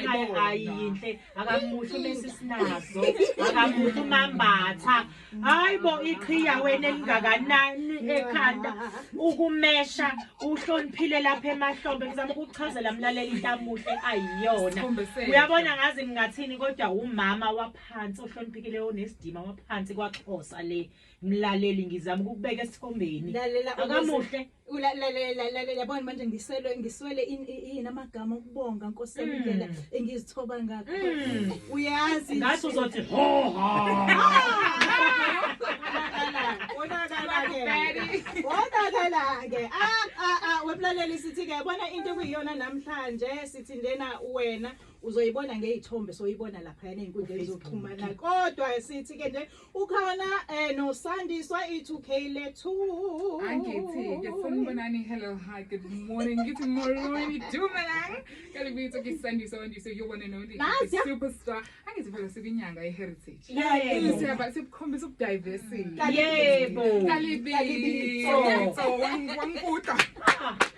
ayinhle akamuhle umesi sinazo akamuhle umambatha hayi bo iqhiya wena elingakanani ekhanda ukumesha uhloniphile lapha emahlombe ngizama ukuchazela mlaleli intamuhle ayiyona uyabona ngazi ngingathini kodwa umama waphansi ohloniphekile onesidima waphansi kwaxhosa le mlaleli ngizama ukubeka esithombeni akamuhle yabona manje ngiselwe ngiswele yini amagama okubonga nkosi yami hmm. indlela engizithoba ngakho hmm. uyazi ngathi uzothi ho ho wonakala-ke ah, ah, ah, wemlaleli sithi-ke bona into ekuyiyona namhlanje sithi ndena wena uzoyibona ngey'thombe soyibona laphayana ey'nkundleni zokuxhumana kodwa sithi-ke nje ukhona eh no sandiswa i2k lethu angithi ngifuna ubonani hello hi good morning ngithi molweni dumelang kale ngitho ngisandiswa wandiswa yobona no ndi superstar angithi phela sibinyanga iheritage yeah yeah siyaba sikukhombisa ubudiversity yebo kalibi kalibi so wangibuka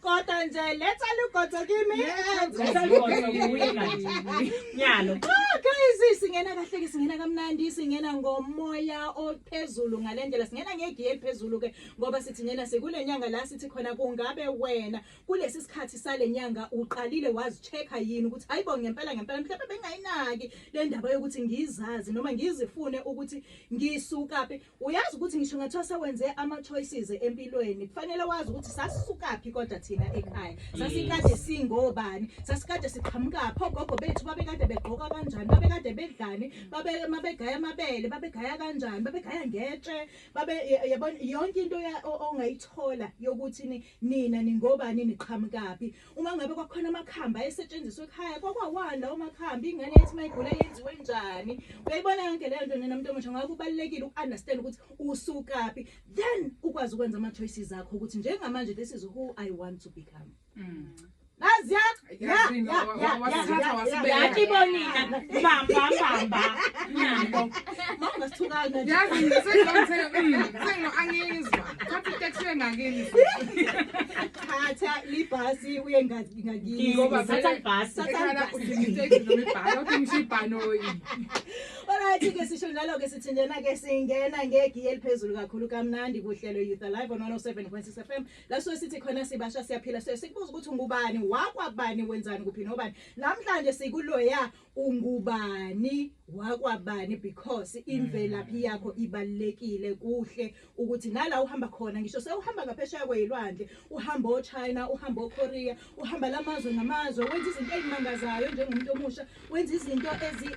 Kodwa nje letha lugodo kimi. Nyalo. Ah, guys, singena kahle ke singena kamnandi singena ngomoya ophezulu ngalendlela singena ngegiye eliphezulu ke ngoba sithi ngena sikule nyanga la sithi khona kungabe wena kulesi sikhathi sale nyanga uqalile wazichecka yini ukuthi hayibo ngempela ngempela mhlawumbe bengayinaki le ndaba yokuthi ngizazi noma ngizifune ukuthi ngisuka phi Uyazi ukuthi ngisho ngathiwa sewenze ama choices empilweni kufanele wazi ukuthi sasisukaphi kodwa thina ekhaya sasikade singobani sasikade siqhamuka pho gogo bethu babekade begqoka kanjani babekade bedlani babe mabegaya amabele babegaya kanjani babegaya ngetshe babe yabona yonke into ongayithola yokuthi nina ningobani niqhamukaphi Uma ngabe kwakhona amakhambi ayesetshenziswa ekhaya kwakwawani lawo makhambi ingane yathi mayigula yenziwe njani uyayibona yonke leyo nto nina muntu omusha ngakho kubalulekile uku-understand ukuthi usukaphi then ukwazi ukwenza ama-choices akho ukuthi njengamanje this is who i want to become mm. Nazia, ya, ya, ya, ya, ya, kibonina, bamba, bamba, nabo. Mama sithukana. Yazi ngisengizwa, mm, sengo angizwa. Thatha itext yengakini. Thatha libhasi uye ngathi ngakini. Ngoba Thatha ibhasi. Thatha Ekhala ibhasi. udinga iteksi noma ibhasi, awudingi ngisho ibhanoyi. Alright ke sisho njalo ke sithi njena ke singena ngegiye eliphezulu kakhulu kamnandi kuhlelo Youth Alive on 107.6 FM la so sithi khona sibasha siyaphila so sikubuza ukuthi ngubani wakwabani wenzani kuphi nobani namhlanje sikuloya ungubani wakwabani because imvelaphi mm. yakho ibalekile kuhle ukuthi nala uhamba khona ngisho sewuhamba ngaphesheya kweyilwandle uhamba ochina uhamba okorea uhamba lamazwe ngamazwe wenza izinto ezimangazayo njengomuntu omusha wenza izinto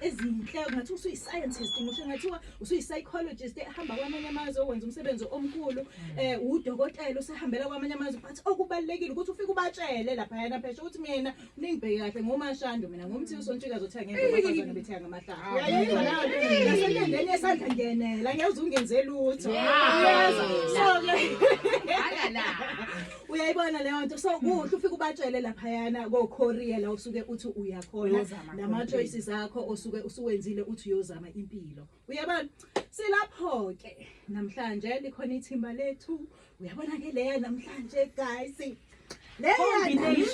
ezinhle ngathi usuyi-scientist ngisho ngathiwa usuyi-psychologist ehamba kwamanye amazwe wenza umsebenzi omkhulu mm. eh udokotela usehambela kwamanye amazwe but okubalekile ukuthi ufike ubatshele lapha yana pheshe ukuthi mina Ningibheke kahle ngomashando mina ngomthi usontshikazi othe ngeke abafazane bethenga amahlanga. Uyayizwa nayo nto nasenkendeni yesandla ngenela ngeke uze ungenze lutho. Uyeza. So ke Akala. uyayibona leyo nto so kuhle ufike ubatshele laphayana ko-korea la usuke uthi uyakhona Uyozama nama-choices akho osuke usuwenzile uthi uyozama impilo uyabona silapho-ke namhlanje likhona ithimba lethu uyabona-ke leya namhlanje guys namhlanje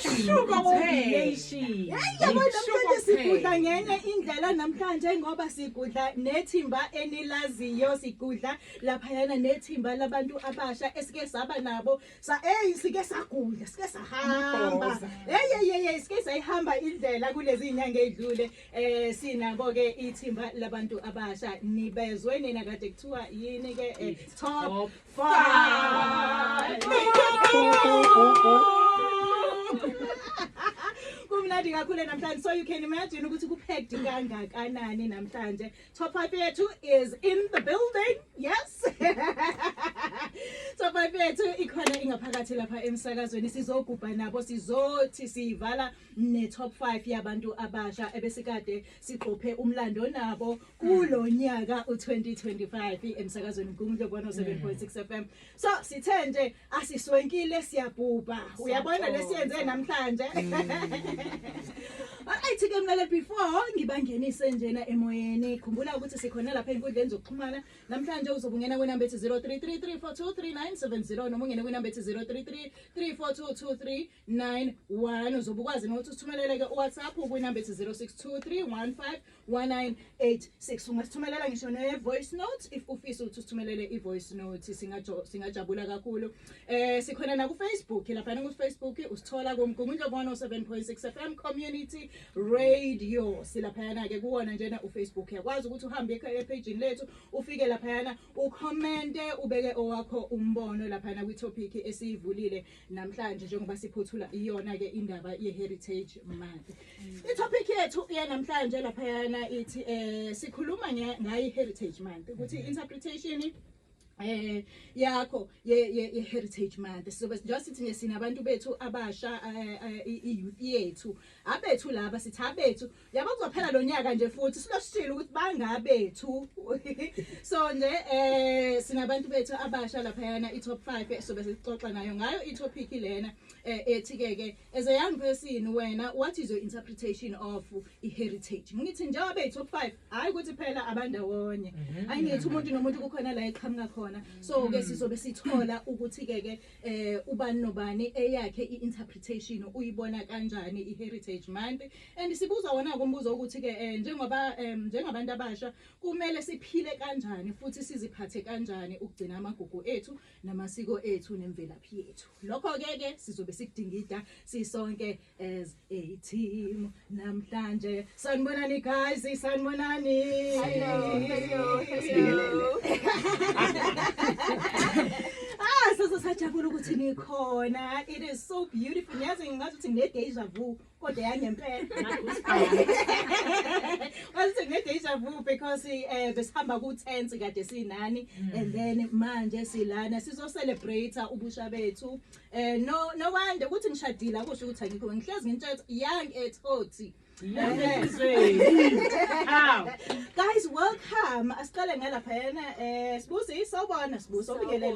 sigudla ngenye indlela namhlanje ngoba sigudla nethimba enilaziyo sigudla laphayana nethimba labantu abasha esike saba nabo sa eyi sike sagudla sike sahamba eyeyeye sike sayihamba indlela kulezi nyanga ey'dlule Eh sinabo ke ithimba labantu abasha nibezwe nina kade kuthiwa yini ke eh, top 5 Kumnandi kakhulu namhlanje so you can imagine ukuthi kupheked kangakanani namhlanje Top 5 yethu is in the building. Yes. Top 5 yethu ikhona ingaphakathi lapha emsakazweni sizogubha nabo sizothi sivala ne top 5 yabantu abasha ebesikade siqophe umlando nabo kulonyaka u2025 emsakazweni uNkulunkulu 107.6 FM. So sithe nje asiswenkile siyabhubha uyabona lesiyenze namhlanje mm. Alright ke mlaleli before ngibangenise njena emoyeni khumbula ukuthi sikhona lapha enkundleni zokuxhumana namhlanje uzobungena kwenamba ethi 0333423970 noma ungene kwenamba ethi 03334223 991 uzobe ukwazi nokuthi usithumelele-ke uwhatsapp kwinamba ethi 0623151986 ungasithumelela ngisho ne-voice note if ufisa ukuthi usithumelele i-voice note singajabula kakhulu um sikhona nakufacebook laphana kufacebook usithola kumgungundlobona u-7 point 6 f m community radio silaphayana-ke kuwona njena ufacebook yakwazi ukuthi uhambe ephejini lethu ufike laphayana ukhomente ubeke owakho umbono laphayana kwithophikhi esiyivulile Namhlanje njengoba siphothula iyona ke indaba ye Heritage Month. I topic yethu ya namhlanje lapha yana ithi eh sikhuluma ngayi Heritage Month ukuthi mm. interpretation eh yakho ye ye heritage month sizobe njengoba sithi nje sinabantu bethu abasha eh, eh, i youth yethu abethu laba sithi abethu yabo kuzophela lo nyaka nje futhi silosishile ukuthi bangabethu so nje eh sinabantu bethu abasha laphayana i-top 5 sobe sixoxa nayo ngayo i-topic lena eh, ethi ke ke as a young person wena what is your interpretation of i-heritage ngithi njengoba i-top 5 hayi ukuthi phela abandawonye mhm. hayi ngithi umuntu nomuntu kukhona la eqhamuka khona so ke mhm. sizobe sithola ukuthi ke ke eh ubani nobani eyakhe i-interpretation uyibona kanjani i-heritage month And sibuza wona-ke umbuzo ukuthi-ke um njengoba um njengabantu abasha kumele siphile kanjani futhi siziphathe kanjani ukugcina amagugu ethu namasiko ethu nemvelaphi yethu lokho-ke ke sizobe sikudingida sisonke as a team namhlanje sanibonani guys sanibonani ah sasasajabula ukuthi nikhona it is so beautiful ngiyazi ngingazi ukuthi nginedeja vu kodwa yangempela wase ngedeja vu because eh besihamba ku tense kade sinani mm. and then manje silana sizo celebrate ubusha bethu eh no no wonder ukuthi ngishadile akusho ukuthi angikho ngihlezi ngintshela young at 40 guys welcome asiqale ngalapha yena eh sibusi sawubona sibusi obingelele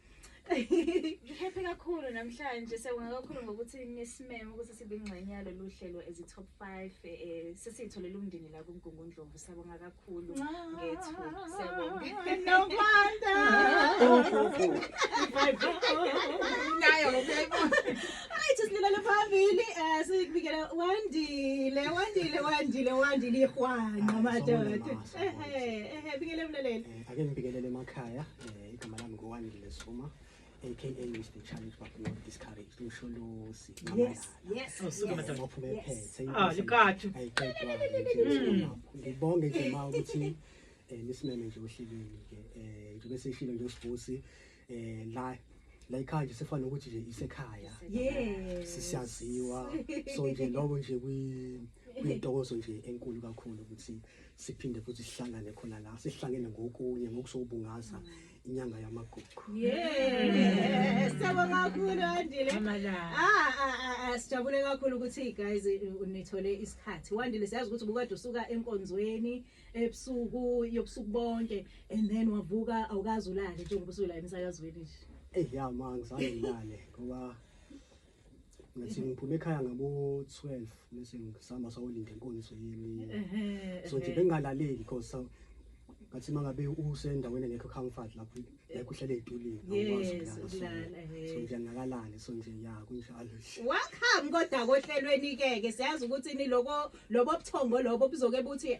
Ngihappy kakhulu namhlanje siyabonga kakhulu ngokuthi nisimeme ukuthi sibe ingxenye yalolu hlelo as top 5 eh sesitholele umndeni la kuMgungundlovu siyabonga kakhulu ngethu siyabonga nokwanda nayo ngiyayibona ayi sisilele phambili eh sikubikela wandile wandile wandile wandile ihwana madoda ehe ehe bikele umlaleli eh, ake ngibikelele emakhaya Eh, igama lami ngowandile soma aka mr challenge but not discouraged usholosi Yes, yes, Oh, suka yes, madam. ophume yes. ephethe Ah, likathi. Mm. ngibonge nje ma ukuthi eh, nisimeme nje ohlelweni ke eh, njengoba seshilo nje usibusi eh, la la ikhaya nje sefana nokuthi nje isekhaya Yes. sisiyaziwa so nje lokho nje kwi- kwintokozo nje enkulu kakhulu ukuthi siphinde futhi sihlangane khona la sihlangene ngokunye ngokusokubungaza inyanga yamagugu siyabonga kakhulu andile ah, ah, ah, sijabule kakhulu ukuthi guys nithole isikhathi wandile siyazi ukuthi ubukade usuka enkonzweni ebusuku yobusuku bonke and then wavuka awukazi ulale njengoba usula emsakazweni nje eyi ya ma ngizange ngilale ngoba ngathi ngiphume ekhaya ngabo-12 bese ngisihamba sawolinda inkonzo yemini so nje bengingalaleli because sa- ngathi uma ngabe usendaweni engekho comfort lapho ngekho uhlele ey'tulini awukwazi Yes, ukulala. So, ukulala, eh. so nje ngingakalali so nje ya kunjalo nje Welcome kodwa kohlelweni ke ke siyazi ukuthi ni lokho lobo buthongo lobo buzoke buthi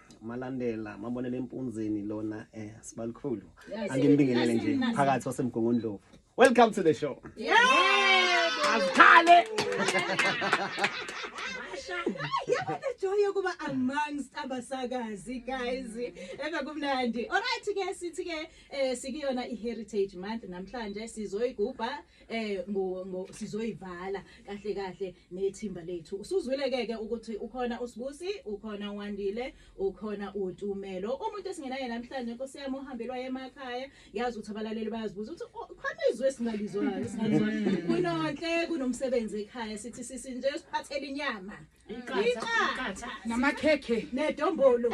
Malandela mabonele empunzini lona eh sibalikhulu angimbingelele nje phakathi wasemgongondlovu. Welcome to the show. Yeah! Azikhale. yabona joy yokuba amongst abasakazi guys ebe kumnandi alright ke sithi ke eh, sikuyona i-heritage month namhlanje sizoyigubha eh ngo, ngo sizoyivala kahle kahle nethimba lethu usuzwile keke ukuthi ukhona usibusi ukhona wandile ukhona utumelo umuntu esingenaye namhlanje nkosi yami uhambelwa emakhaya yazi ukuthi abalaleli bayazibuza ukuthi oh, khona izwe singalizwayo singalizwayo kunonhle kunomsebenzi ekhaya sithi sisi nje siphathele inyama iqatha namakhekhe nedombolo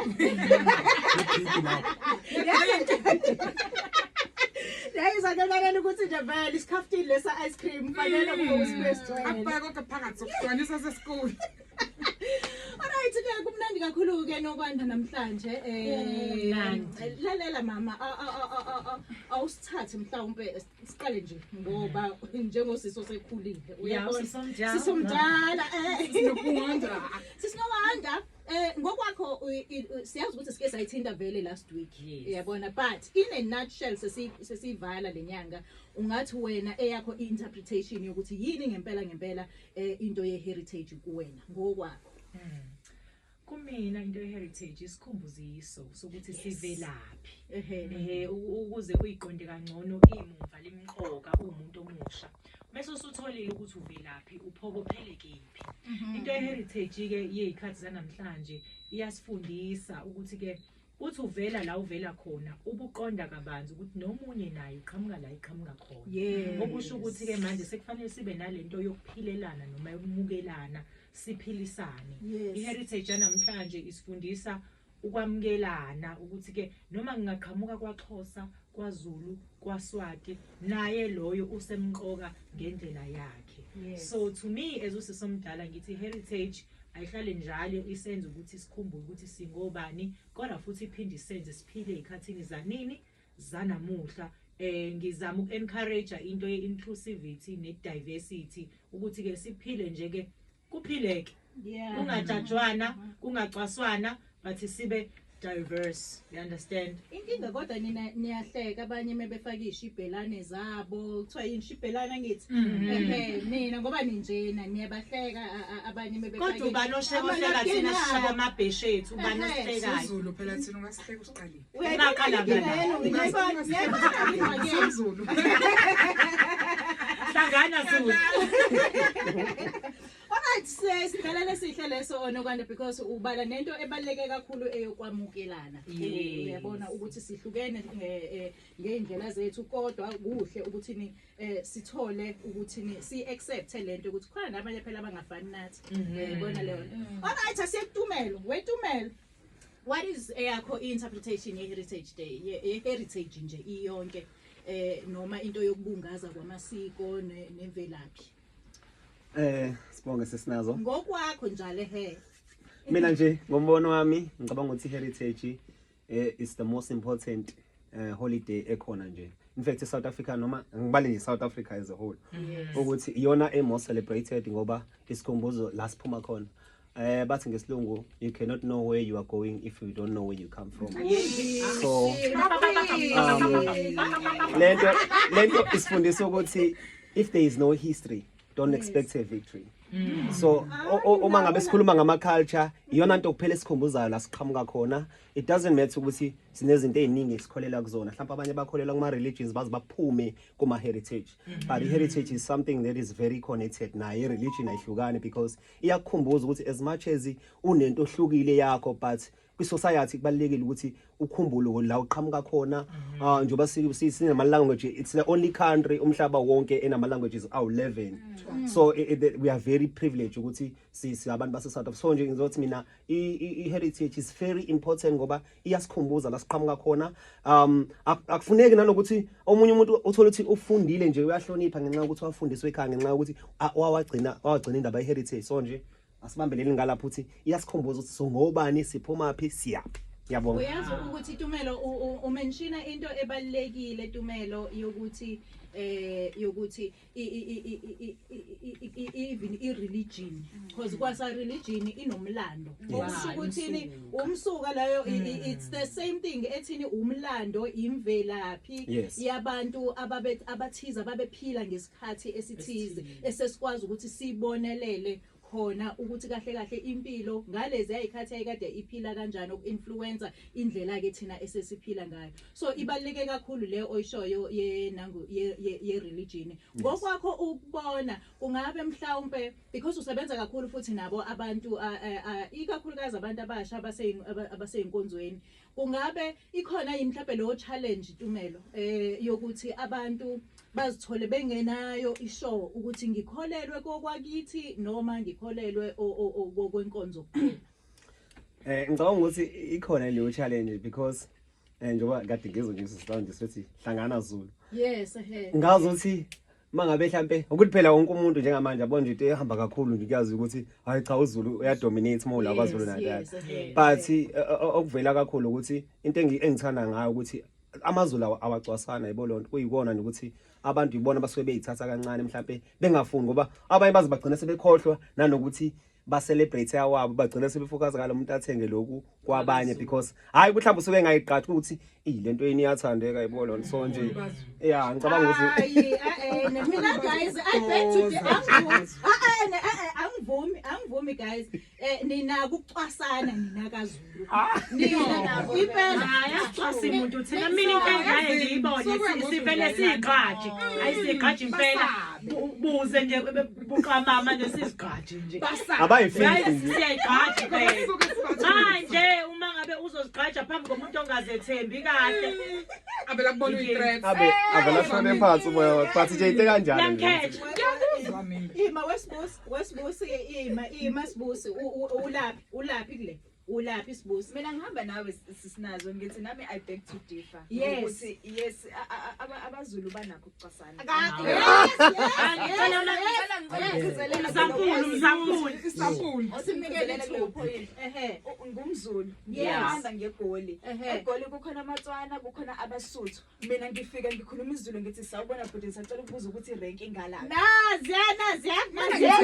yayizanelalela ukuthi nje vele isikhafutini lesa ice cream fanele hmm. kube usibesgcwele akubheke kodwa phakathi sokugcwanisa sesikole Alright ke kumnandi kakhulu ke nokwanda namhlanje eh lalela mama awusithathe mhlawumbe siqale nje ngoba njengosisi osekhulile uyabonasisomdala sisinowanda um eh, ngokwakho siyazi ukuthi sike sayithinta vele last week uyabona but in a nutshell sesiyivala le nyanga ungathi wena eyakho i-interpretation yokuthi yini ngempela ngempela um into ye-heritage kuwena ngokwakho hmm. Kumina into yeheritage isikhumbuziso sokuthi sivelaphi. Ehhe ukuze uyiqonde kangcono imumva limqoka umuntu omusha. Mase usutholile ukuthi uvelaphi uphokophele kephi. Mhm. Into yeheritage ke yezikhathi zanamhlanje iyasifundisa ukuthi ke Uthi uvela la uvela khona ubuqonda kabanzi ukuthi nomunye naye uqhamuka la iqhamuka khona. Yes. Okusho ukuthi ke manje sekufanele sibe nalento yokuphilelana noma yokumukelana siphilisane. Yes. I-heritage yanamhlanje isifundisa ukwamukelana ukuthi ke noma ngingaqhamuka kwaXhosa KwaZulu, kwaSwati naye loyo usemqoka ngendlela yakhe. Yes. So to me as usisi omdala ngithi heritage ayihlale njalo isenza ukuthi sikhumbule ukuthi singobani kodwa futhi iphinde isenze siphile ezikhathini zanini zanamuhla eh ngizama ukencourage into yeinclusivity nediversity ukuthi ke siphile nje ke Kuphileke. Yeah. Kungajajwana, kungacwaswana but sibe diverse you understand inkinga kodwa nina niyahleka abanye mebefaka ishibhelane zabo kuthiwa yini shibhelana ngithi mhm. ehe nina ngoba ninjena niyabahleka abanye mebefaka kodwa ubani osheka ohleka thina sishaya amabheshe ethu ubani osifekayo phela thina ungasihleka usiqalile Uyaqala Zulu. Hlangana Zulu. Alright sis, ngicela lesihle leso onokwanda because ubala nento ebaleke kakhulu eyokwamukelana. Yes. Uyabona ukuthi sihlukene eh, eh, ngeindlela zethu kodwa kuhle ukuthi ni eh, sithole ukuthi ni si accept lento ukuthi khona nabanye phela abangafani nathi. Mhm. Uyabona leyo. Alright asiyekutumelo, wetumelo. What is eyakho eh, interpretation ye heritage day ye heritage nje iyonke eh noma into yokubungaza kwamasiko nemvelaphi Eh sibonge sesinazo Ngokwakho njalo he Mina nje ngombono wami ngicabanga ukuthi heritage eh is the most important uh, holiday ekhona nje in fact South Africa noma ngibale nje South Africa as a whole yes. ukuthi iyona e more celebrated ngoba isikhumbuzo la siphuma khona eh bathi ngesilungu you cannot know where you are going if you don't know where you come from so um, lento lento isifundisa ukuthi if there is no history don't expect a victory mm. so uma ngabe sikhuluma ngama culture iyona nto kuphela esikhumbuzayo la siqhamuka khona it doesn't matter ukuthi sinezinto eziningi esikholela kuzona mhlawumbe abanye bakholela kuma religions baze baphume kuma heritage mm-hmm. but heritage is something that is very connected naye religion ayihlukani because iyakukhumbuza ukuthi as much as unento ohlukile yakho but kwi-society kubalulekile ukuthi ukhumbule la uqhamuka khona mhm. ah, njengoba sinama-language it's the only country umhlaba wonke enama-languages awu-11 mm. so we are very privileged ukuthi siabantu base-south so nje ngizothi mina i-heritage is very important ngoba iyasikhumbuza la siqhamuka khona um akufuneki nanokuthi omunye umuntu uthole ukuthi ufundile nje uyahlonipha ngenxa yokuthi wafundiswe ekhaya ngenxa yokuthi wawagcina wawagcina indaba ye-heritage so nje asibambeleni ngalapho ukuthi iyasikhumbuza ukuthi singobani siphumaphi siyaphi yabonga uyazi ukuthi tumelo umenshina into ebalekile tumelo yokuthi eh yokuthi even i religion because kwasa religion inomlando okusho ukuthi umsuka leyo it's the same thing ethini umlando imvelaphi yabantu ababe abathiza babephila ngesikhathi isikhathi esithize esesikwazi ukuthi sibonelele khona ukuthi kahle kahle impilo ngalezi ayikhathi ayikade iphila kanjani okuinfluencer indlela ke thina esesiphila ngayo so ibaleke kakhulu le oyishoyo ye nangu ye, ye, ye religion ngokwakho yes. ukubona kungabe mhlawumbe because usebenza kakhulu futhi nabo abantu ikakhulukazi abantu abasha abaseyinkonzweni Kungabe ikhona yini mhlawumbe leyo challenge Tumelo eh yokuthi abantu bazithole bengenayo ishow ukuthi ngikholelwe kokwakithi noma ngikholelwe kokwenkonzo kuphela. Eh ngicabanga ukuthi ikhona leyo challenge because eh njengoba kade ngizwe nje sihlanje sithi hlangana Zulu. Yes ehe. Ngazi ukuthi mangabe mhlampe ukuthi phela wonke umuntu njengamanje abona nje into ehamba kakhulu nje kuyazi ukuthi hayi cha uZulu uyadominate more la kwaZulu Natal but eh, eh, okuvela kakhulu ukuthi into engithanda ngayo ukuthi amazulu awacwasana yibo lonto kuyikona nokuthi abantu yibona abasuke beyithatha kancane mhlampe bengafuni ngoba abanye baze bagcina sebekhohlwa nanokuthi ba celebrate awabo bagcina sebefokaza ngalo muntu athenge lokhu kwabanye because hayi ukuthi mhlawumbe usuke engayiqathi ukuthi iyi lento yini iyathandeka yebo lona so nje yeah ngicabanga ukuthi hayi eh, eh, eh, mina guys i bet to the angivumi angivumi guys eh nina kucwasana nina kazi impelaimuntu thina mina inkangaye ngiyibone sivele siyigqaji ayisiyigqaji impela buze nje buqamama nje sizigqaji nje siyayigqaji manje uma ngabe uzozigqaja phambi komuntu ongazethembi kahle avela kubona uyi-threat abe avela shone phansi umoya wakhe but nje into kanjani yangikhetha ima wesibusi wesibusi ima ima sibusi ulaphi Ulaphi kule? Ulaphi sibusi? Mina ngihamba nawe sisinazo ngithi nami I beg to differ. Yes. Ukuthi yes a- a- aba- abazulu banakho ukucwasana. Mzankulu, mzankulu. Isampuli. Osimnikele ithuba. Ehe. U- ngumzulu Yes. ngiyahamba ngegoli Ehe. egoli kukhona amatswana kukhona abasuthu mina ngifika ngikhuluma izulu ngithi sawubona bhuti ngisacela ukubuza ukuthi irenk ingalaphi naziya naziya naziya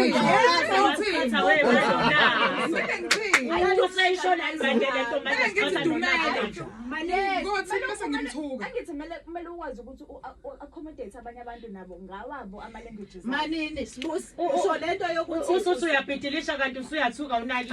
angithi kumele kumele ukwazi ukuthi u-accommodate abanye abantu nabo ngawabo ama-languages manini sibusi usho le nto yokuthi usuthi uyabhidilisha kanti usuyathuka unali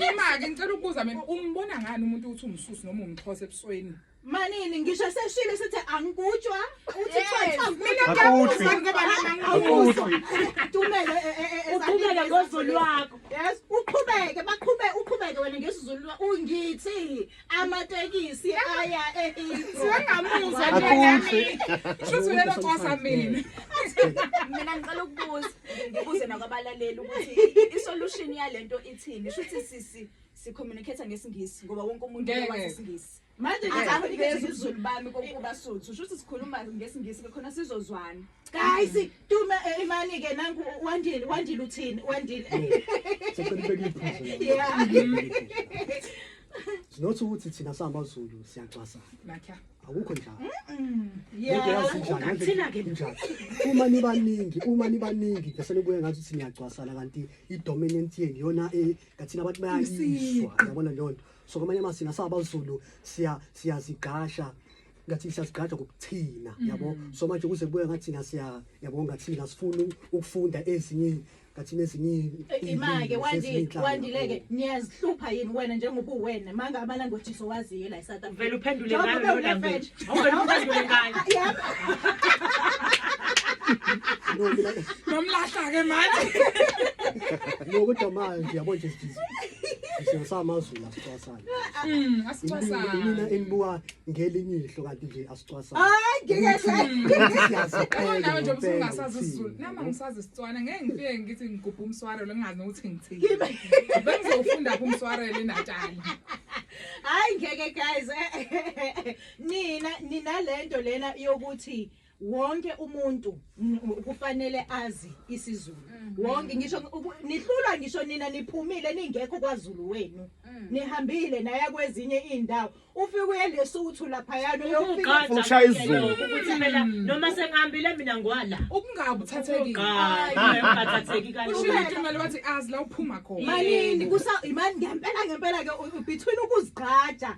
imaki ngicela ukubuza mina umbona ngani umuntu ukuthi umsusi noma umxhosa ebusweni Manini ngisho eseshilo sithi angikutshwa uthi Yes. phansi Mina Akuthi. ngiyabuza ngoba nami angibuza. Akuthi. uqhubeke eh, eh, eh, uqhubeke ezanike ngozulu izulu. lwakho Yes, uqhubeke baqhube uqhubeke wena ngesizulu lwa- ungithi amatekisi aya eHithi. Siyangamuzwa nje Akuthi. nami. Shuthi ulelo cosa mina. mina ngicela ukubuza ngibuze nakwabalaleli ukuthi isolution yalento ithini shuthi sisi sicommunicate ngesingisi ngoba wonke umuntu Ngeke. wazi isingisi manje ngizakuveza ubuzulu bami kokuba suthu shuthi sikhuluma ngesingisi ke khona sizozwana guys tuma eh, imani ke nangu wandile wandile uthini wandile sinothi ukuthi thina samaZulu siyacwasana akukho njalo uma nibaningi uma nibaningi bese nibuye ngathi ukuthi niyacwasana kanti i-dominant yenu yona eh, kathina abantu bayayiswa yabona leyo nto so kwamanye ama sina saba Zulu siya siyazigasha ngathi siyazigaja ngokuthina mm. yabo so manje kuze kubuye ngathi ngasiya yabo ngathi ngasifuna ukufunda ezinye ngathi nezinye eh, imake wandile wandile ke niyazihlupha yini wena njengoba uwena manga ama languages owaziyo la eSouth Africa vele uphendule ngayo lo language awuvele uphendule ngayo nomlahla ke manje nokudomayo nje yabo nje Isho samazulu asicwasana. Mm, asicwasana. Mina enibuka ngelinye ihlo kanti nje asicwasana. Hayi ngeke siyaziqhela. Nawe nje usungasazi isiZulu. Nami angisazi isitswana ngeke ngifike ngithi ngigubha umswaro lengazi nokuthi ngithini. Bengizofunda phi umswaro eNatali. Hayi ngeke guys. Nina ninalento lena yokuthi wonke umuntu kufanele azi isiZulu mhm. wonke ngisho nihlulwa ngisho nina niphumile ningekho kwaZulu wenu mhm. nihambile naya kwezinye indawo ufike uye lesuthu lapha yalo yofika ushaya izulu ukuthi mina mm. noma sengihambile mina ngwala ukungabi uthathekile ngathatheki kanjani usho into ngale wathi azi la uphuma khona malini kusa imani ngempela ngempela ke between ukuzigqaja